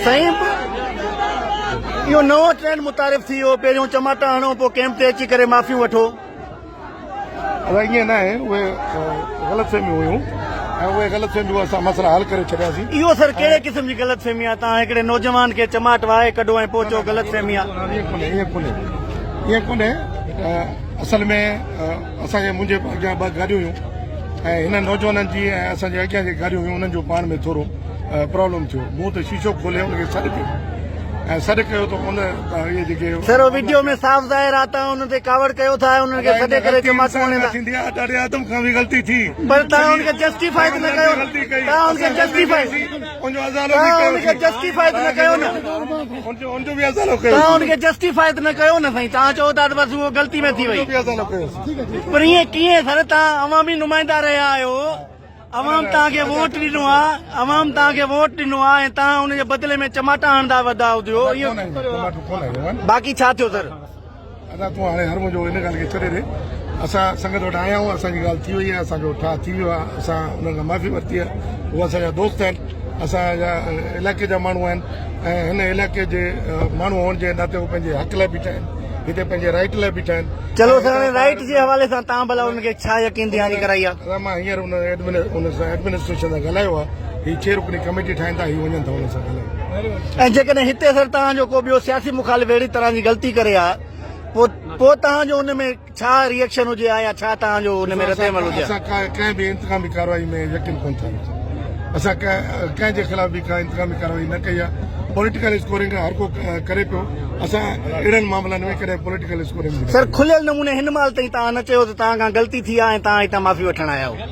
سائين اهو نئون ٽرينڊ متعارف ٿي ويو پهريون چماٽا هڻو پوء ڪيمپ تي اچي ڪري معافيون وٺو ادا ائين نه آهي اهي غلط فهميون هيون ۽ اهي غلط فهميون اسان مسئلا حل ڪري ڇڏياسين اهو سر ڪهڙي قسم جي غلط فهمي آهي تان هڪڙي نوجوان کي چماٽ وهائي ڪڍو ۽ پوء چئو غلط فهمي آهي اهي ڪونه اهي ڪونه اهي ڪونه اصل ۾ اسان جي منهنجي اڳيان ٻه گاڏيون هيون ۽ هنن نوجوانن جي ۽ اسان جي اڳيان جي گاڏيون هيون انهن جو پاڻ ۾ ٿورو پرابلم ٿيو مون ته شيشو کولي ان کي سڏ ڪيو ۽ سڏ ڪيو ته ان اهي جيڪي سر ويڊيو ۾ صاف ظاهر آ ته ان تي ڪاوڙ ڪيو ٿا ۽ انهن کي سڏي ڪري چماٽون هڻين ٿا ٿيندي آ ڏاڏي آدم کان به غلطي ٿي پر تهان ان کي جسٽيفائي ته نه ڪيو تهان ان کي جسٽيفائي ان کي جسٽيفاء ته نه ڪيو نه. توهان ان کي جسٽيفاء ته نه ڪيو نه سائين توهان چئو ٿا ته بس اهو غلطي ۾ ٿي وئي. پر ائين ڪيئن سر توهان عوامي نمائندا رهيا آهيو عوام توهان کي ووٽ ڏنو آهي عوام توهان کي ووٽ ڏنو آهي ۽ توهان ان جي بدلي ۾ چماٽا هڻندا ودا هديو ائين باقي ڇا ٿيو سر. ادا تون هاڻي هر منهنجو ان ڳالهه کي ڇڏي ڏي اسان سنگت وٽ آيا آهيون اسان جي ڳالهه ٿي وئي آهي اسان جو ٺاهه ٿي ويو آهي اسان انهن کان معافي ورتي آهي هو اسان جا دوست آهن اسان جا علائقي جا ماڻهو آهن ۽ هن علائقي جي ماڻهو هئڻ جي ناتي هو پنهنجي حق لاء بيٺا آهن هتي پنهنجي رائٽ لاء بيٺا آهن چلو سر رائٽ جي حوالي سان تان ڀلا ان کي ڇا يقين دهاني ڪرائي آهي مان هينئر ان ايڊمن ان سان ايڊمنسٽريشن سان ڳالهايو آهي هي چھ رڪني ڪميٽي ٺاهين ٿا هي وڃن ٿا ان سان ڳالهائي ۽ جيڪڏهن هتي سر توهان جو ڪو ٻيو سياسي مخالف اهڙي طرح جي غلطي ڪري ها پوء پوء توهان جو ان ۾ ڇا ريئڪشن هجي ها يا ڇا توهان جو ان ۾ رد عمل هجي ها اسان ڪنهن به انتقامي ڪارروائي ۾ يقين ڪونه ٿا رکون اسان ڪنهن جي خلاف به ڪا انتقامي ڪارروائي نه ڪئي آهي پوليٽيڪل اسڪورنگ هر ڪو ڪري پيو اسان اهڙن معاملن ۾ ڪڏهن پوليٽيڪل اسڪورنگ سر کليل نموني هن مهل تائين توهان نه چيو ته توهان کان غلطي ٿي آهي ۽ توهان هتان معافي وٺڻ آيا آهيو